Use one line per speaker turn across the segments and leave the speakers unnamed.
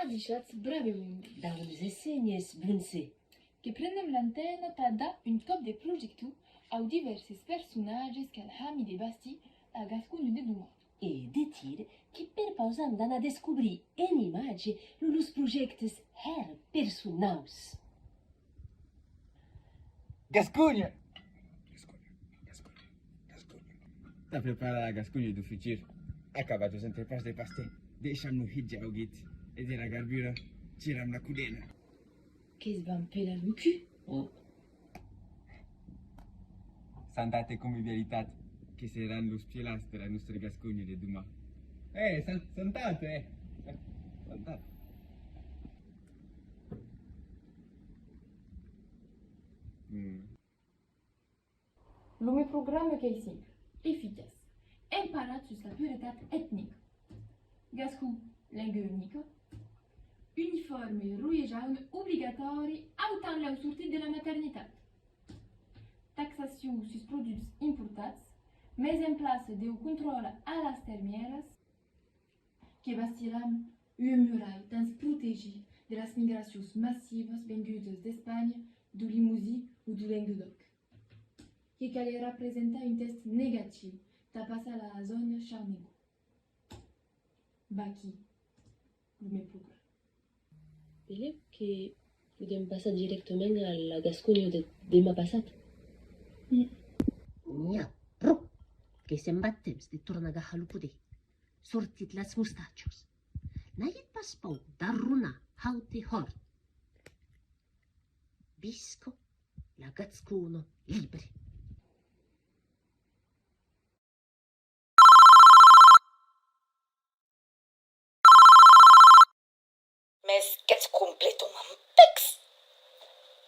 Avichatz bravemond dau nos essenhes Bronze, que prenem l'antena tà dar un còp de projector au divèrses personatges qu'an hami de bastir la Gasconha de doman. E detir qu'i perpausam d'anar descobrir en imatge lo los projèctes hèr personaus. Gasconha! Tà preparar la Gasconha du futur a cavar dos entrepans de pastè, deisham lo hit ja augit e de la garbura tiram la codena. Qu'es ben pela lo cul! O! Santat e convivialitat que seràn los pièlats de la nòstre Gasconha de demà! E! Santat e! Santat! Hum. Lo meu programa qu'ei simple, eficaç, emparat sus la puretat etnica. Gascon, lenga unica, uniforme roie jaune obligatòri autant lèu sortit de la maternitat. Taxacion sus produchs importats, mes en plaça deu contròle a las termièras. que bastiram ua murai tens protegir de las migracions massivas vengudas d'Espanha, du Limousi o du Lenguedoc. Que calerà presentar un test negatiu tà passar la zòna Charnegó. Vaquí lo meu programa. Pelé que podem passar directament a la Gasconha de demà passat? N'i a pro que se'n va temps de tornar gahar lo poder, sortit las mustatjos. N'aget pas paur d'arronar haut e hòrt. Visca la Gascona libre! Mès qu'ètz completament pècs!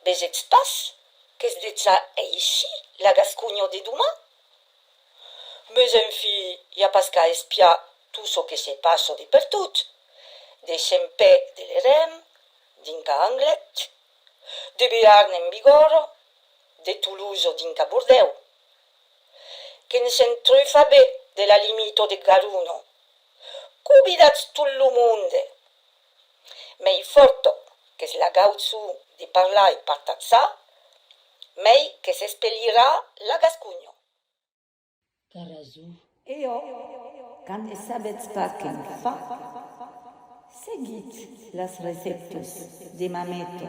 Vegetz pas qu'es dejà aishi la Gasconha de doman? Mès en fi, i a pas qu'a espiar tot çò que se passa de pertot, de Xempè de l'Erem, dinca Anglet, de Bearn en Bigòrra, de Toulouse dinca Bordèu. Que ne se'n trufa be de la limito de Garuno. Cu vidatz tot lo monde. Mei forto qu'es la gautzu de parlar e partatzà, mei que s'espelhirà la gascunho. T'as rason. E ò, quand ne sabetz pas que'n fa, seguitz las receptos de Mameto.